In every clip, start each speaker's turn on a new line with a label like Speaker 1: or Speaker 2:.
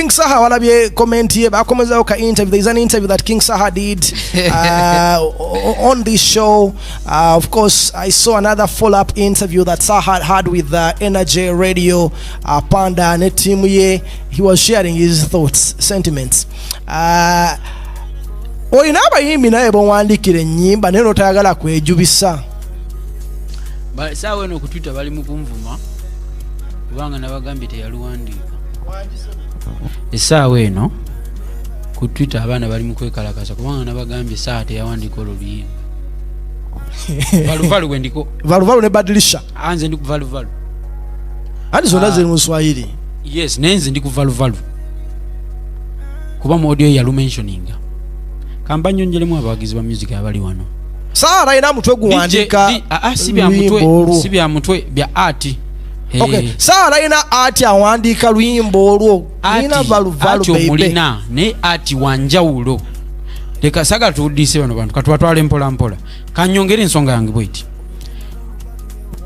Speaker 1: King Saha walabye comment ye bakomezawo ka interview there is an interview that King Saha did uh, on this show uh, of course I saw another follow up interview that Saha had with uh, Energy Radio uh, Panda ne team ye he was sharing his thoughts sentiments uh, olina abayimbi naye bowandikira enyimba naye notayagala kwejubisa
Speaker 2: saawa eno okutwita bali mukunvuma kubanga nabagambye teyaluwandiika esaawa eno ku twitter abaana bali mukwekalakasa kubanga nabagambye esaawa teyawandika oluluyimba valuvalu wendiko valuvalu ne badilisha
Speaker 1: anze ndi kuvaluvalu andi zonna ah. ziri mu swahili yes naye nze
Speaker 2: ndi kuvaluvalu kuba mu audio yalumensioninga kamba nyonjelemu abawagizi ba music abali wano saara ina mutwe
Speaker 1: guwandika ah, ah,
Speaker 2: si bya mutwe bya ati Eh.
Speaker 1: okay sawa alina ati awandiika luyimbo olwo alina valuvalu omulina naye
Speaker 2: ati wanjawulo leka saga tuwudiise bano bantu katubatwala empolampola kanyongere ensonga yange bweti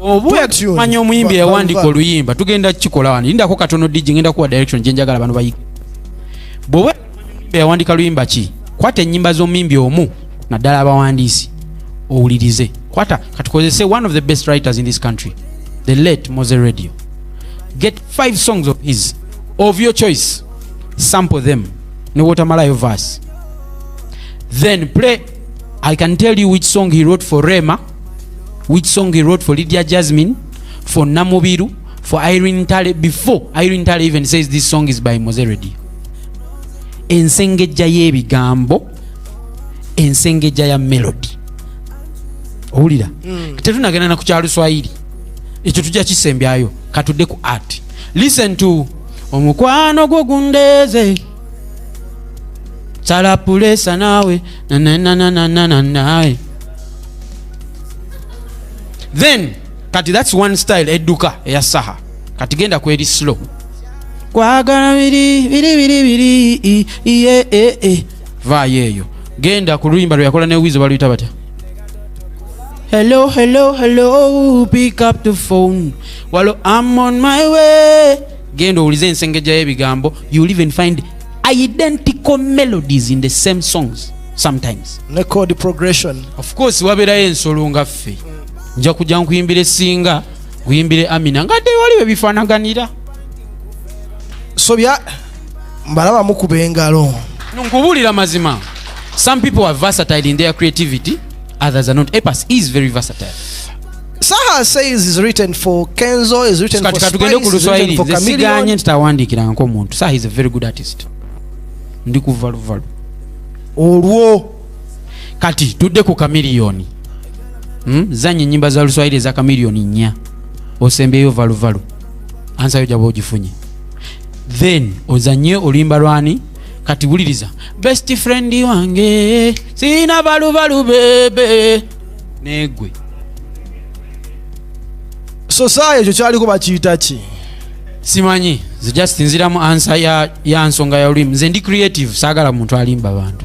Speaker 2: obumanya omuyimbi yawandika oluyimba tugenda kukikola wano indako katono digi ngenda kuwa direction gyenjagala bano bayi yawandika luyimba ki kwata enyimba z'omuyimbi omu naddala abawandiisi owulirize kwata katukozese one of the best writers in this country the late mose radio get five songs of his of your choice sample them newotamalayo verse then play i can tell you which song he wrote for rema which song he wrote for lydia jasmine for namubiru for irene tale before irene tale even says this song is by mose radio ensengejja y'ebigambo ensengejja ya melodi owulira mm. tetunagenda na ku kya luswayiri ekyo tujja kisembyayo katudde ku art listen to omukwano gwo gundeeze salapulesa naawe nananananananae then kati thats one style edduka eya saha kati genda kweri slow kwagala biri biri biri biri iye e e vaayo eyo genda ku luyimba lweyakola ne wizo baluyita batya hello hello hello pick up the phone walo am on my way genda owulize ensengejja y'ebigambo you will even find identical melodies in the same songs sometimes ne code progression
Speaker 1: of course wabeerayo
Speaker 2: ensolo nga ffe nja kujja nkuyimbira esinga uyimbire amina nga dde wali webifanaganira
Speaker 1: so bya mbalaba mukuba engalo nkubuulira
Speaker 2: mazima some people are versatile in their creativity others are not epas is very versatile saha
Speaker 1: says is written for kenzo is written for katugende ku luswahili nze siganye nti tawandiikirangako omuntu
Speaker 2: saha is a very good artist ndi kuvaluvalu olwo kati tudde ku kamiliyoni hmm? zanya enyimba za luswahili eza kamiliyoni nnya osembyeyo valuvalu ansayo jaba ogifunye then ozanye oluyimba lwani kati wuliriza best friend wange sirina balubalu bebe negwe
Speaker 1: so saa ekyo kyaliko bakiyita ki simanyi
Speaker 2: nze just nziramu ansa ya, ya nsonga ya olulimi nze ndi creative saagala muntu alimba bantu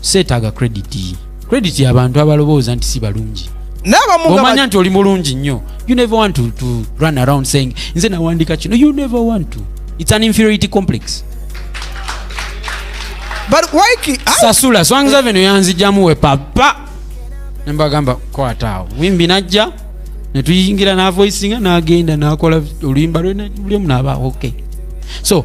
Speaker 2: seetaaga credit credit yabantu abalowooza nti si balungi omanya nti oli mulungi nnyo you never want to, to run around saying nze nawandika kino you never want to it's an inferiority complex sasula
Speaker 1: swangi
Speaker 2: zaveno yanzijamu we papa nembagamba kwataawo wimbi najja netuyingira navoisinga nagenda nakola oluyimba lwe buli omu naba okay so